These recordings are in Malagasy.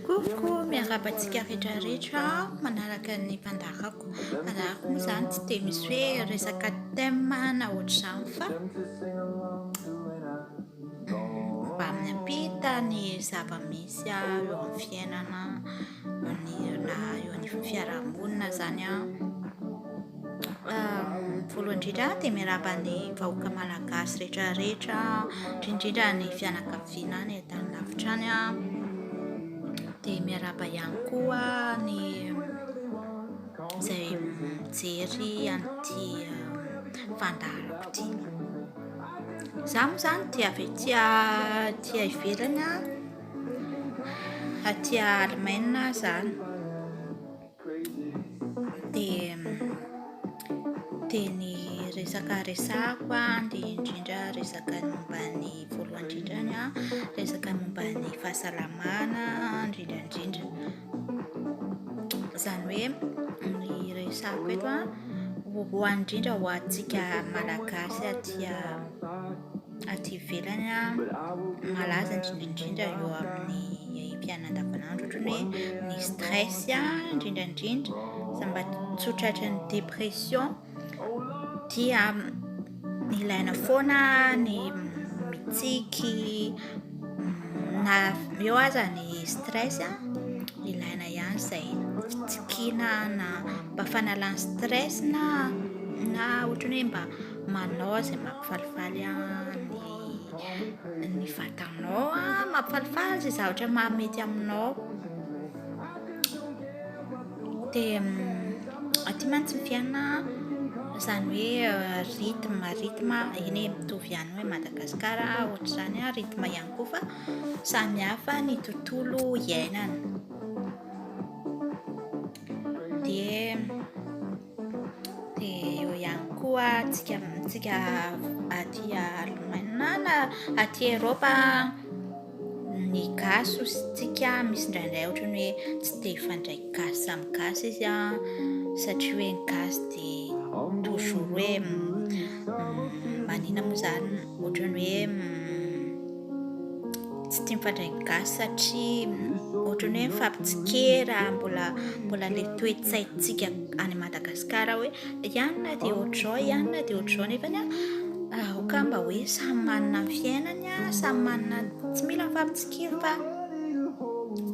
Coucou, miarahaba antsika rehetra rehetra manaraka ny mpandarako. Manaraka moa izany tsy dia misy hoe resaka thème na ohatr'izany fa mba miampita ny zava-misy eo amin'ny fiainana. manirina eo anivon'ny fiarahamonina izany an. Voalohany indrindra dia miarahaba ny vahoaka malagasy rehetra rehetra, indrindra ny fianakaviana any an-tany lavitra any an. Dia miarahaba ihany koa ny izay mijery an'ity fandaharako ity. Izaho moa izany dia avy aty ivelany an. aty Allemagne aho zany dia dia ny resaka resahako an dia indrindra resaka momba ny voalohany indrindrany an resaka momba ny fahasalamana indrindra indrindra izany hoe ny resahako eto an voalohany indrindra ho antsika malagasy aty aty ivelany malaza indrindra indrindra eo amin'ny iainam-piainana andavanandro ohatran'ny hoe ny stress indrindra indrindra za mba tsy ho tratran'ny dépression dia ilaina foana ny mitsiky na eo aza ny stress ilaina ihany izay fitsikiana na mba fanalana stress na na ohatran'ny hoe mba manao izay maha Falifaly ny vatanao an, mampifalifaly izay zavatra mahamety aminao, dia aty mantsy ny fiainana izany hoe rythme rythme eny e, mitovy ihany hoe Madagasikara ohatr'izany an, rythme ihany koa fa samy hafa ny tontolo iainana. Dia dia eo ihany koa tsika tsika aty Allemagne na aty Europe ny gasy sy tsika misy indraindray ohatran'ny hoe tsy te hifandray gasy samy gasy izy an satria hoe ny gasy dia toujours hoe manina moa zany Ohatrany hoe tsy tia mifandray ny gasy satria ohatrany hoe mifampitsikera mbola mbola le toetsaintsika any Madagascar hoe ianona dia ohatrao ianona dia ohatrao nefa ny aoka mba hoe samy manana ny fiainany a samy manana tsy mila mifampitsikera fa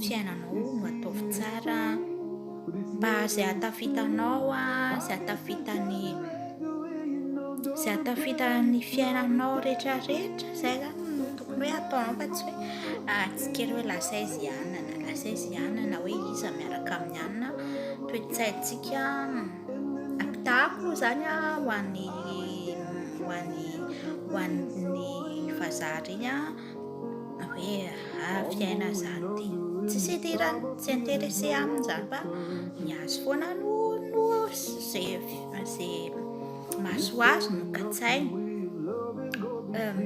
fiainanao no ataovy tsara mba izay hatafitanao izay hatafitany izay hatafitan'ny fiainanao rehetra rehetra izay zany no tokony hoe atao fa tsy hoe ah, tsy kely hoe lasa izy anana lasa izy anana hoe iza miaraka amin'ny anina toetsaintsika apitako zany a ho an'ny ho an'ny ho an'ny vazaha reny a hoe ah fiaina zany ty tsisy idirany tsy intéressé aminy zany fa ny azy foana no no ze ze maso azy no katsainy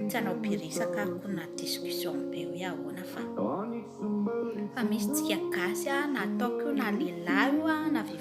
tsy hanao biresaka ko na discussion be hoe ahoana fa fa misy tsika gasy a na ataoko io na lehilahy io a na vehivavy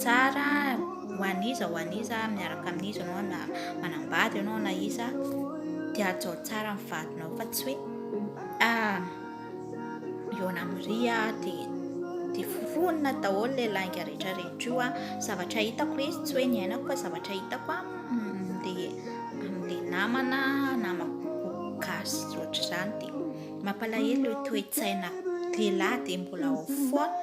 Tsara ho an'iza ho an'iza, miaraka amin'iza ianao na manambady ianao na iza dia hajao tsara ny vadinao fa tsy hoe ah ihaona amin'iry aho dia dia foronina daholo ilay lainga rehetra rehetra io ah zavatra hitako hoe tsy hoe niainako fa zavatra hitako ah dia amin'ilay namana namako gasy tsy ohatr'izany dia mampalahelo ilay toe-tsaina lehilahy dia mbola ao foana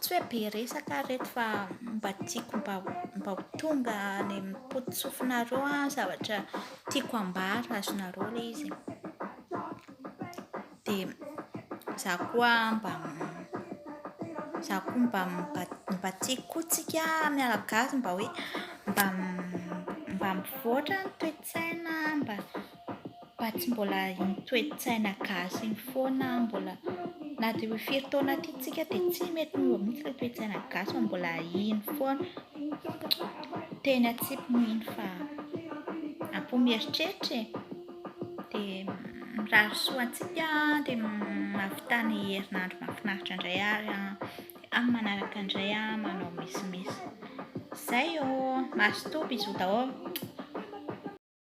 tsy hoe be resaka ary reto fa mba tiako mba ho mba ho tonga any amin'ny pototsofinareo ny zavatra tiako hambara azonareo ilay izy dia izaho koa mba izaho koa mba mba mba tiako koa tsika miala gasy mba hoe mba mba mivoatra ny toe-tsaina mba Fa tsy mbola iny toe-tsaina gasy iny foana mbola na dia hoe firy taona aty isika dia tsy mety miova mihitsy ilay toe-tsaina gasy fa mbola iny foana. Teny an-tsipy moa iny fa ampy mieritreritra e. Dia mirary soa antsika dia mahavita ny herinandro mahafinaritra indray ary amin'ny manaraka indray manao misimisy. Izay ô! Mazotoa, bisous daholo.